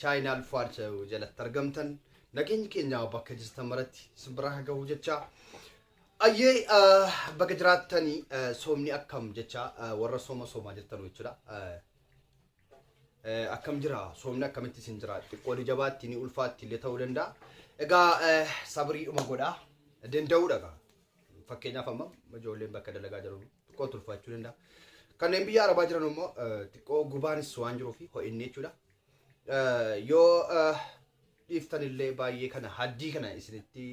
Chaayinaal Fuad Show jalatti argamtan nageenyi keenya bakka jirtan maratti isin bira haa gahu jecha ayyee ah, baga jiraattanii ah, soomni akkam jecha ah, warra sooma soomaa jirtan jechuudha. Ah, eh, Akkam jira soomni akkamitti isin jira xiqqoo ni jabaatti ni ulfaatti illee ta'uu danda'a. Egaa eh, sabriidhuma godhaa danda'uudha egaa. Fakkeenyaaf amma ijoolleen bakka dalagaa jiran xiqqoo tulfaachuu danda'a. Kanneen biyya arabaa jiran immoo eh, xiqqoo gubaanis waan jiruuf ho'inni jechuudha. Yoo dhiiftan illee baay'ee kana haddii kana isinitti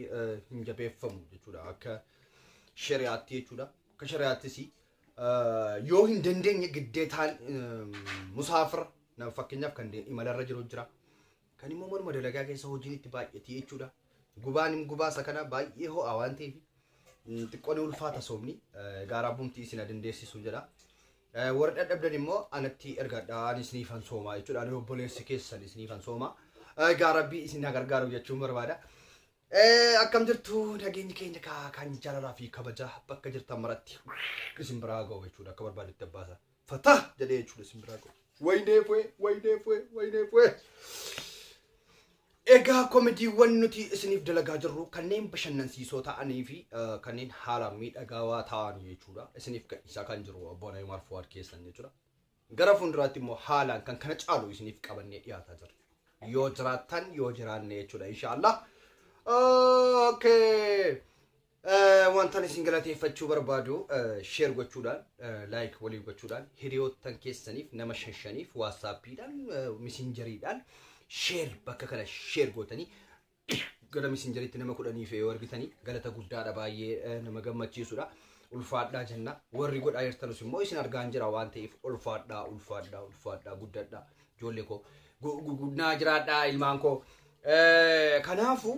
hin jabeeffamu jechuudha akka shari'aatti jechuudha. Akka shari'aattis yoo hin dandeenye giddeetaan musaafira nama fakkeenyaaf kan imalarra jiru jira. Kan immoo manuma dalagaa keessa hojiin itti baay'atii jechuudha. Gubaan gubaasa kana baay'ee ho'aa waan ta'eef xiqqoon ulfaata soomni gaaraa bumti isin dandeessisu jedha. Warri dhadhabdan immoo anatti ergadhaa ani isiniifan soomaa jechuudha. Ani obboleessi keessan isiniifan soomaa. Egaa rabbii isin haa gargaaru jechuun barbaada. Eh, Akkam jirtu nageenyi keenya kaa kan jaalalaa fi kabaja bakka jirtan maratti isin biraa ga'u jechuudha akka barbaadetti abbaasa. Fataa jedhee jechuudha isin biraa ga'u. Wayinee fu'ee, wayinee fu'ee, wayinee fu'ee. Egaa komediiwwan nuti isiniif dalagaa jirru kanneen bashannansiisoo ta'anii fi kanneen haalaan miidhagaawaa ta'an jechuudha. Isiniif gadhiisaa kan jiru obbo Naymaar Fuwaad keessan jechuudha. Gara fuulduraatti immoo haalaan kan kana caalu isiniif qabannee dhiyaataa jirra. Yoo jiraattan yoo jiraanne jechuudha inshaallah. Okay. Wantan isin galateeffachuu barbaadu sheer gochuudhaan laayik walii gochuudhaan hiriyoottan keessaniif nama shan shaniif waasaappiidhaan misinjariidhaan sheer bakka kana sheer gootanii gara misinjariitti nama kudhaniif yoo argitanii galata guddaadha baay'ee nama gammachiisudha. Ulfaadhaa jenna warri godhaa jirtanus immoo isin argaan jira waan ta'eef ulfaadhaa ulfaadhaa ulfaadhaa guddadhaa ijoollee koo naa jiraadhaa ilmaan koo kanaafuu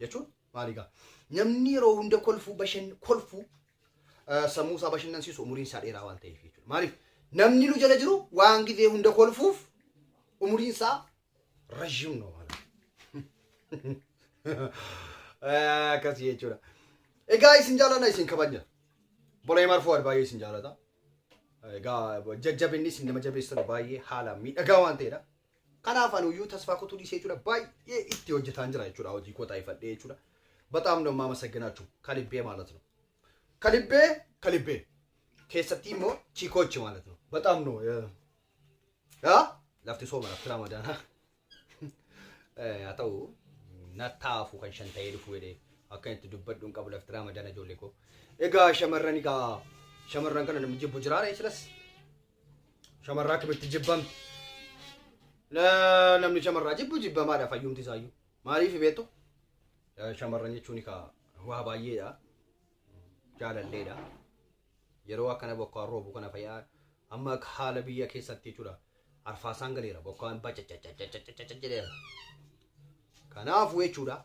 jechuun maali gaa namni yeroo hunda kolfuu bashan kolfuu eh, sammuu isaa bashannansiisu umuriin isaa dheeraa waan ta'eef jechuudha. Maaliif namni nu jala jiru waan gizee hunda kolfuuf umuriin isaa rajim no maala. Eh, Akkas jechuudha. Egaa isin jaalladha isin kabajna. Bolee marfuu baay'ee isin jaallata. Egaa jajjabinni isin nama jabeessan baay'ee haala miidhagaa waan ta'edha. Kanaaf anuyyuu tasfaa kutuu dhiisee jechuudha baay'ee itti hojjetaan jira jechuudha hojii koo taa'ifadhee jechuudha. Bataam nama amasagginaachuu kalibbee maalat no. Kalibbee kalibbee keessattii immoo chiikoochi maalat no. Bataam no yaa lafti sooma lafti raamadaanaa. Haa ta'u nattaafu kan shan ta'ee dhufu jedhee akka itti dubbadhu hin qabu lafti raamadaana ijoollee koo. Egaa shamarran egaa shamarran kana namni jibbu jiraare silas Shamarraa akkamitti jibbamti? Na- Namni shamarraa jibbu jibbamaadha fayyumti isaayyuu. Maaliif beektu? Eh, Shamarran jechuun egaa waa baay'eedha. Jaalalleedha. Yeroo akkana bokkaan roobu kana fayyaa amma akka haala biyya keessatti jechuudha. Arfaasaan galeera bokkaan bacacacacacacacaca jedheera. Kanaafuu jechuudha.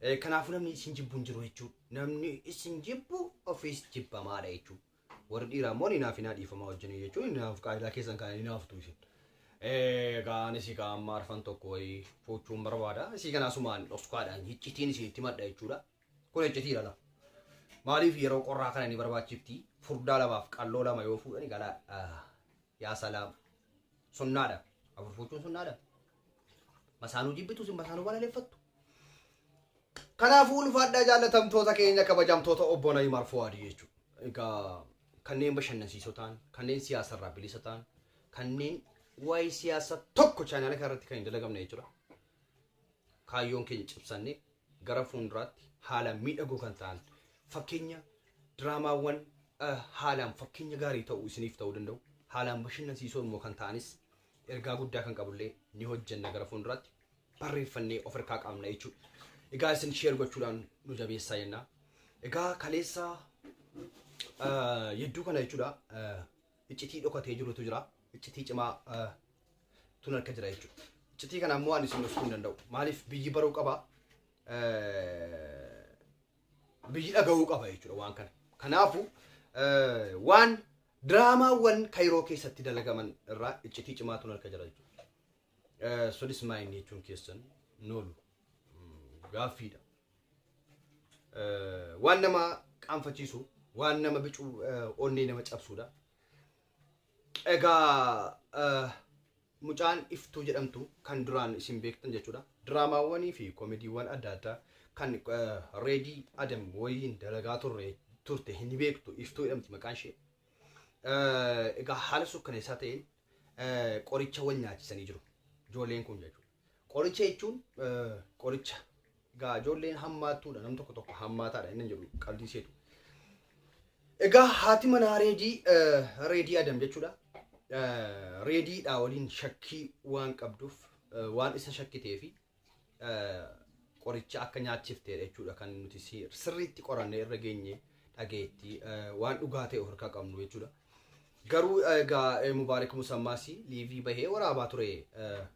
Eh, Kanaafuu namni isin jibbu hin jiru jechuudha. Namni isin jibbu ofiis jibbamaadha jechuudha. Warri dhiiraa immoo ni naafinaa dhiifamaa wajjin jechuun ni naaf qaayilaa keessan kana ni naaftu isin. Eh, Kaan isii kaan amma arfan tokko wayii fuuchuun barbaada. Isii kana asumaan dhoksukaadhaan hiccitiin isinitti madda jechuudha. Kun hiccitii dhala. Maaliif yeroo qorraa kana ni barbaachifti? Furdaa lamaaf qalloo lama yoo fuudhani galaa. Ah, Yaa salaam. Sunnaadha. Afur fuuchuun sunnaadha. Masaanuu jibbitu isin masaanuu balaleeffattu. Kanaafuu ulfaadhaa jaallatamtoota keenya kabajamtoota obbo Alii Umar Fuwaadii jechuudha. Egaa kanneen bashannansiisoo ta'an, kanneen siyaasarraa bilisa ta'an, kanneen waa'ee siyaasa tokko chaanaala kanarratti kan hin dalagamne jechuudha. Kaayyoon keenya cimsannee gara fuulduraatti haala miidhagoo kan ta'an fakkeenya diraamaawwan eh, haalaan fakkeenya gaarii ta'u isiniif ta'uu danda'u haalaan bashannansiisoo immoo kan ta'anis ergaa guddaa kan qabullee ni hojjenna gara fuulduraatti barreeffannee of harkaa qabna jechuudha. Egaa isin sheer gochuudhaan nu jabeessaa jenna. Egaa kaleessa ah, yedduu kana jechuudha ah, iccitii dhokatee jirutu jira. Iccitii cimaa ah, tun harka jira jechuudha. Iccitii kana ammoo ani isin gochuu hin danda'u. Maaliif biyyi baruu qaba. Eh, biyyi dhaga'uu qaba jechuudha waan kana. Kanaafuu waan diraamaawwan Kayiroo keessatti dalagaman irraa iccitii cimaatu harka jira jechuudha. Sunis maayinni jechuun keessan noolu gaaffiidha. Waan nama qaanfachiisu, waan nama bicu onnee nama cabsuudha. Egaa mucaan iftuu jedhamtu kan duraan isin beektan jechuudha. Diraamaawwanii fi koomediiwwan adda addaa kan reedii adam waliin dalagaa turre turte hin beektu iftuu jedhamti maqaan ishee. Egaa haala sukkaneessaa ta'een qoricha wal nyaachisanii jiru. Ijoolleen kun jechuudha. Qoricha jechuun qoricha. Egaa ijoolleen hammaattuudha nam tokko tokko hammaataadha inni jedhu qabdii seetu. Egaa haati manaa reedii reedii adam jechuudha. Reediidhaa waliin shakkii waan qabduuf waan isa shakkitee fi qoricha akka nyaachifteedha jechuudha kan nuti sirriitti qorannee irra geenye dhageetti waan dhugaa ta'e of harkaa qabnu jechuudha. Garuu egaa Mubaarik Musammaas liivii bahee waraabaa ture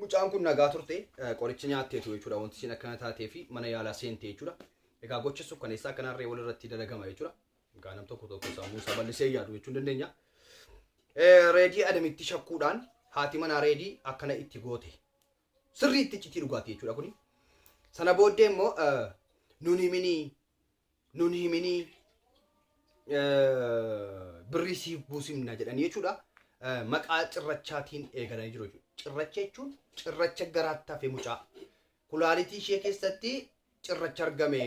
Mucaan kun nagaa turte qoricha nyaatteetu jechuudha wanti isin akkana taatee fi mana yaalaa seente jechuudha. Egaa gocha sukkaneessaa akkanaa harree wal irratti dalagama jechuudha. Egaa nam tokko tokko sammuu isaa bal'isee yaadu jechuun dandeenya. Reedii adamitti shakkuudhaan haati manaa reedii akkana itti goote. Sirrii itti iccitii dhugaati jechuudha kuni. Sana booddee immoo nuni mini nun himinii eh, birrii siif buusimna jedhanii jechuudha. Eh, Maqaa cirrachaatiin eegalanii jiru jechuudha. Cirracha jechuun cirracha garaatti hafe mucaa. Kulaalitii ishee keessatti cirracha argame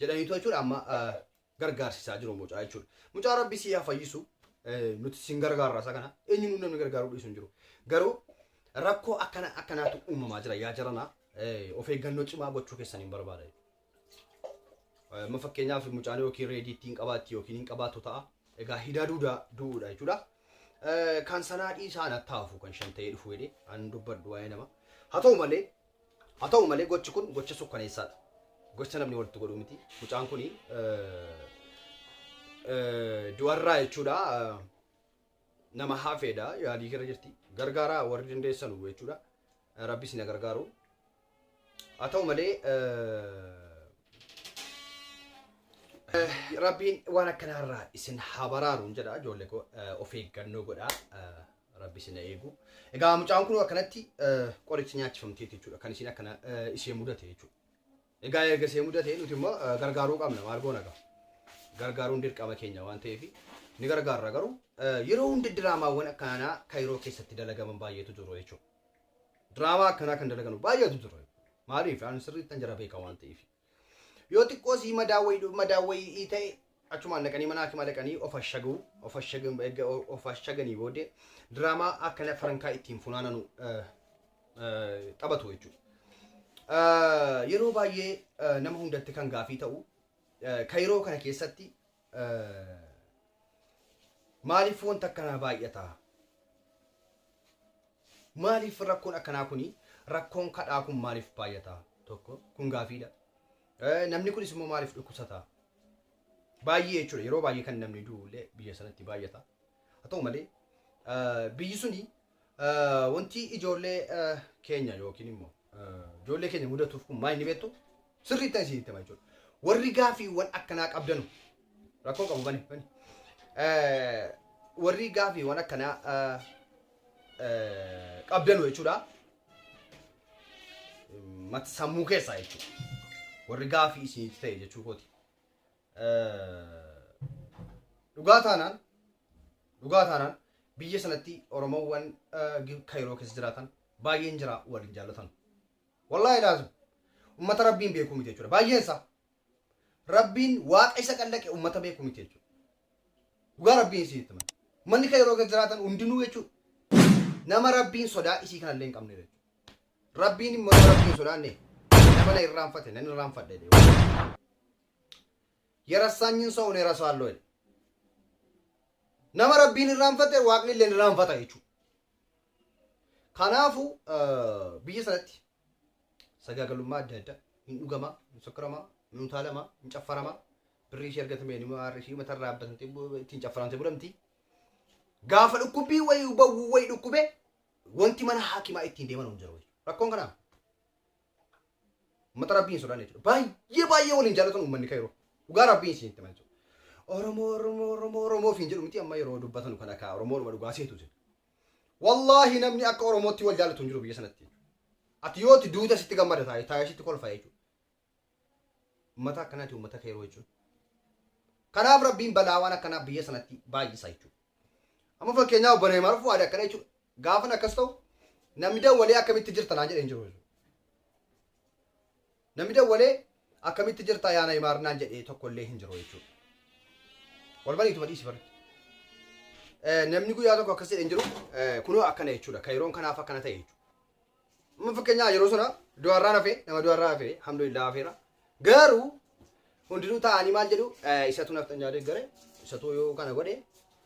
jedhaniitu jechuudha amma eh, gargaarsisaa jiru mucaa jechuudha. Mucaa rabbi sii haa fayyisu nuti sin gargaarra isa kana eenyuun namni gargaaruu dhiisu hin jiru. Garuu rakkoo akkana akkanaatu uumamaa jira yaa jarana of eeggannoo cimaa gochuu keessan hin barbaada. Amma fakkeenyaaf mucaan yookiin reedii ittiin qabaatti yookiin hin qabaatu ta'a. Egaa hidaa duudaa du'uudha jechuudha. Kan sanaa dhiisaan attaafuu kan shan ta'ee dhufu jedhee an dubbadhu waa'ee nama. Haa ta'u malee Haa ta'u malee gochi kun gocha sukkaneessaadha. Gocha namni walitti godhu miti. Mucaan kun du'arraa jechuudha nama hafeedha yaalii keerra jirti. Gargaaraa warri dandeessanu jechuudha. Rabbi isin gargaaru. Haa ta'u malee Rabbiin waan akkanaarraa isin haa baraaru jedha ijoollee koo of eeggannoo godhaa. Rabbi isin haa eegu. Egaa mucaan kun akkanatti qoricha nyaachifamtee jechuudha kan isin akkana ishee mudate jechuudha. Egaa erga ishee mudate nuti immoo gargaaruu qabna maal goona egaa. Gargaaruun dirqama keenya waan ta'eef ni gargaarra garuu yeroo hunda diraamaawwan akkanaa kaayiroo keessatti dalagaman baay'eetu jiru jechuudha. Diraamaa akkanaa kan dalaganu baay'eetu jiru. Maaliif ani sirriittan jara beeka waan ta'eef. Yoo xiqqoo sii madaa wayii madaa wayii ta'e achumaan dhaqanii mana hakimaa dhaqanii of ashagu of ashagu erga of ashaganii booddee diraamaa akkana farankaa ittiin funaananu eh, eh, taphatu jechuudha. Eh, Yeroo baay'ee eh, nama hundatti kan gaafii ta'u eh, ka yeroo kana keessatti eh, maaliif wanta akkanaa baay'ata? Maaliif rakkoon akkanaa kuni rakkoon kadhaa kun maaliif baay'ata? Tokko kun gaafiidha. Namni kunis immoo maaliif dhukkubsata? Baay'ee jechuudha yeroo baay'ee kan namni du'ullee biyya sanatti baay'ata. Haa ta'u malee biyyi suni wanti ijoollee keenya yookiin immoo ijoollee keenya mudatuuf kun maal inni beektu Sirriitti ani isinitti hima jechuudha. Warri gaafiiwwan akkanaa qabdanu rakkoo qabu bani bani. Eh, Warri gaafiiwwan akkanaa eh, eh, qabdanu jechuudha. Mata sammuu keessaa jechuudha. Warri gaafii isinitti ta'e jechuu kooti. Eh, Dhugaa taanaan dhugaa taanaan biyya sanatti Oromoowwan eh, Gi- Kayiroo keessa jiraatan baay'een jira waliin jaallatan. Wallaahi laazim. Ummata Rabbiin beekuu miti jechuudha. Baay'een isaa. Rabbiin waaqa isa qallaqe ummata beekuu miti jechuudha. Dhugaa Rabbiin isin itti mana. Manni kan yeroo jiraatan hundinuu jechuudha. Nama Rabbiin sodaa isii kanallee hin qabne jechuudha. Rabbiin immoo nama Rabbiin sodaanne nama na irraanfate nan irraanfadhe jedhee. Yerassaanyin soo ulee rasaallo jedhe. Nama Rabbiin irraanfate waaqni illee irraanfata jechuudha. Kanaafuu biyya sanatti sagaagalummaa adda addaa hin dhugamaa, hin sokkaramaa, hin utaalamaa, hin caffaramaa. Birrii ishee argatamee ni maarri ishee mata irraa abbatantee ittiin caffaramtee bulamti. Gaafa dhukkubbii wayii bawwuu wayii dhukkubee wanti mana haakimaa ittiin deeman hin jiru. Rakkoon kanaa Ummata rabbii hin sodaanne jechuudha. Baay'ee baay'ee waliin jaalatan ummanni kayroo. Dhugaa rabbii isin itti manchu. Oromoo Oromoo Oromoo Oromoo ofiin jedhu miti amma yeroo dubbatan kana kaa Oromoo dhuma dhugaa seetu isin. Wallaahi namni akka Oromootti wal jaalatu hin jiru biyya sanatti. Ati yoo itti duuta sitti gammada taa'e taa'e sitti kolfa jechuudha. Ummata akkanaati ummata kayroo jechuudha. Kanaaf rabbiin balaa waan akkanaa biyya sanatti baay'isa jechuudha. Amma fakkeenyaaf obbo Neemaar Fuwaad akkana jechuudha. Gaafan akkas ta'u namni dawwalee akkamitti jirta naan jedhe hin jiru. Namni dawwalee akkamitti jirta yaa Nayimaar naan jedhe tokko illee hin jiru jechuudha. Wal baniituma dhiisi barri. Namni guyyaa tokko akkas jedhe hin jiru kunoo akkana jechuudha. Kayiroon kanaaf akkana ta'e jechuudha. Amma fakkeenyaa yeroo sana du'arraan hafee nama du'arraa hafee alhamdulillah hafeera. Garuu hundinuu taa'anii maal jedhu eh, isatu naftan jaadee gare isatu yoo kana godhe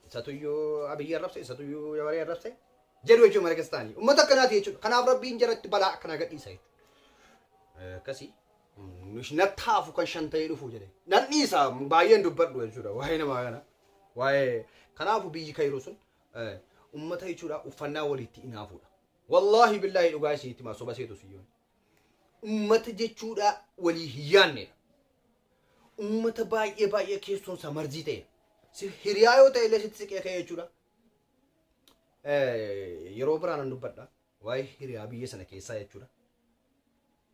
isatu yoo abiyyi arrabse isatu yoo yawaree arrabse jedhu jechuudha mana keessa taa'anii. Uummata akkanaati jechuudha. Kanaaf rabbiin jaratti balaa akkanaa gadhiisa jechuudha. Eh, Akkasii mm, nush nattaafu kan shan ta'ee dhufu jedhe. Nan dhiisa baay'een dubbadhu jechuudha waa'ee namaa kana. Waa'ee kanaafu biyyi kairuu sun eh, uummata jechuudha uffannaa walitti inaafuudha. Wallaahi billaahi dhugaa isinitti himaa soba seetu siyyoon. Uummata jechuudha walii hin yaannedha. Uummata baay'ee baay'ee keessoon isaa marzii ta'edha. Si hiriyaa yoo ta'e illee sitti siqee ka'e jechuudha. Eh, Yeroo biraa nan dubbadha. Waa'ee hiriyaa biyya sana keessaa jechuudha.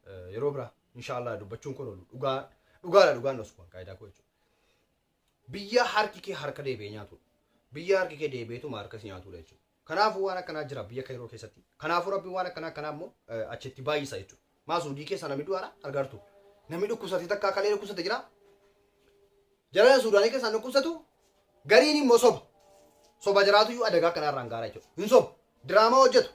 Eh, Yeroo biraa inshaallah dubbachuun kun oolu dhugaa dhugaadha dhugaan osu kun qaayidaa koo jechuudha. Biyya harki kee harka deebi'ee nyaatudha. Biyya harki kee deebi'eetuma harka si nyaatudha jechuudha. Kanaafuu waan akkanaa jira biyya Kayiroo keessatti. Kanaafuu Rabbiin waan akkanaa akkanaa immoo eh, achitti baay'isa jechuudha. Maa Suudii keessa namni du'aara argaartu. Namni dhukkubsate takka kalee dhukkubsate jira. Jarana Suudaanii keessaan dhukkubsatu gariin immoo soba. Soba jiraatu iyyuu adagaa akkanaa irraan gaara jechuudha. Hin soba. Diraamaa hojjetu.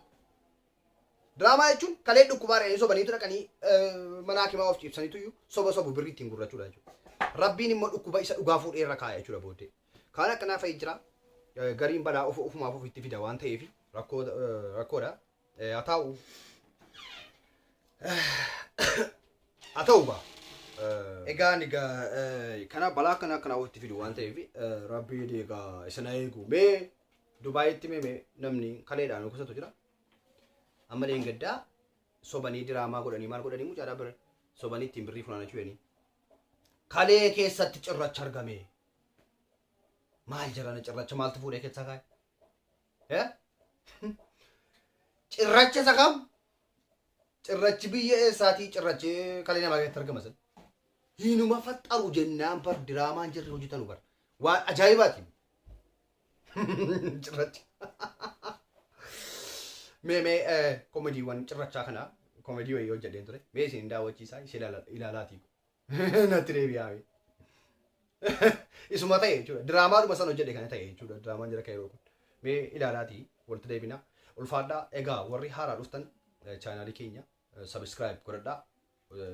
Diraamaa jechuun kalee dhukkubaa dhaqanii sobaniitu dhaqanii eh, mana hakimaa of ciibsaniitu iyyuu soba sobu birrii ittiin gurrachuudha jechuudha. Rabbiin immoo dhukkuba isa dhugaa fuudhee irra kaaya jechuudha booddee. Kaan akkanaa fa'i jira. Eh, Gariin balaa of ofumaaf ofitti fida waan ta'eef rakkoo eh, rakkoodha. Eh, Haa ta'u haa ta'u gaa. Eh, Egaa ani egaa eh, kana balaa kana akkanaa ofitti fidu waan ta'eef eh, rabbiin egaa isa na eegu. Mee Dubaayitti mee mee namni kaleedhaan kusatu jira. Amma leengaddaa sobanii diraamaa godhanii maal godhanii mucaadhaa bira sobanii ittiin birrii funaanachuu jedhanii. Kalee keessatti cirracha argame. Maal jarana cirracha maaltu fuudhee keessaa kaa'e? Eh? Cirracha isa kam? Cirrachi biyya eessaatii cirrachi kalee namaa keessatti argama sana. Hinuma faxxaru jennaan bar diraamaan jirri hojjetanu bar. Waan ajaa'ibaati. Cirracha. Mee mee eh, komediiwwan cirrachaa kana komedii wayii hojjedheen ture. Mee isin hin daawwachiisaa ishee ilaala- ilaalaatii. natti deebi'aa mee. Isuma ta'e jechuudha. Diraamaadhuma sana hojjedhe kana ta'e jechuudha. Diraamaan jira kairoo kun. Mee ilaalaatii walitti deebina. Ulfaadhaa egaa warri haaraa dhuftan chaanaalii keenya sabiskiraayib godhadhaa.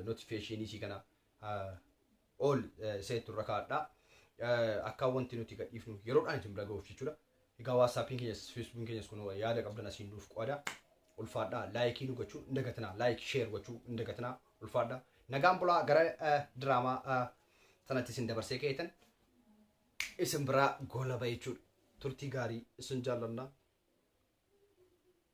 Notifikeeshinii isii kana ol seetu irra kaa'adhaa. Akka wanti nuti gadhiifnu yeroodhaan isin bira ga'uuf jechuudha. Egaa WhatsAppiin keenyas Facebookiin keenyas kunoo yaada qabdan asiin nuuf qo'ada. Ulfaadhaa laayikii nu gochuu hin dagatinaa. Laayik sheer gochuu hin dagatinaa. Ulfaadhaa. Nagaan bulaa gara eh, diraamaa eh, sanatti isin dabarsee keetan isin biraa goolaba jechuudha. Turtii gaarii isin jaallanna.